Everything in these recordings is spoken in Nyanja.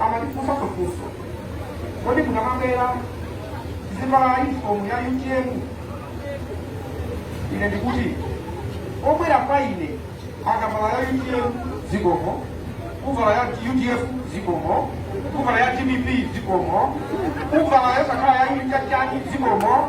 amatifunsa kufunsa kuti kodi mumangovala zovala uniform ya utm ine ndikuti wobwera kwa ine akavala ya utm zikomo kuvala ya udf zikomo kuvala ya dpp zikomo kuvala yosakhala ya chipani zikomo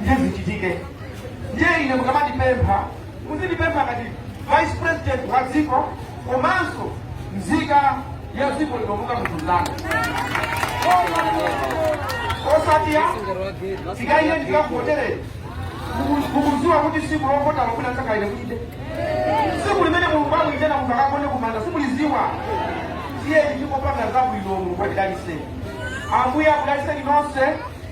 ndiye zichitike ndiye ine mukamatipempha muzitipempha ngati vice president wa dziko komanso nzika ya dziko lino monga munthu mzanu osati ayi tikaike tikakuvotereni mukuziwa kuti tsiku lovota mwina simukafika kuti tsiku limene mulungu amuitana munthu akagone kumanda simuliziwa tiyeni tizipanga zabwino mulungu atidalise ambuye akudaliseni nonse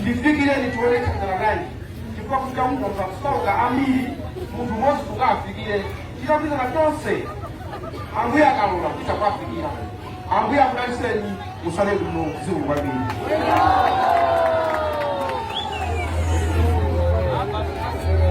ndifikireni tione tithandizana bwanji chifukwa kuti anthu akusauka ambiri munthu mmodzi sangawafikire tikagwirizana tonse ambuye akalola titha kuwafikira ambuye akudaliseni mutsale kuno zikomo kwambiri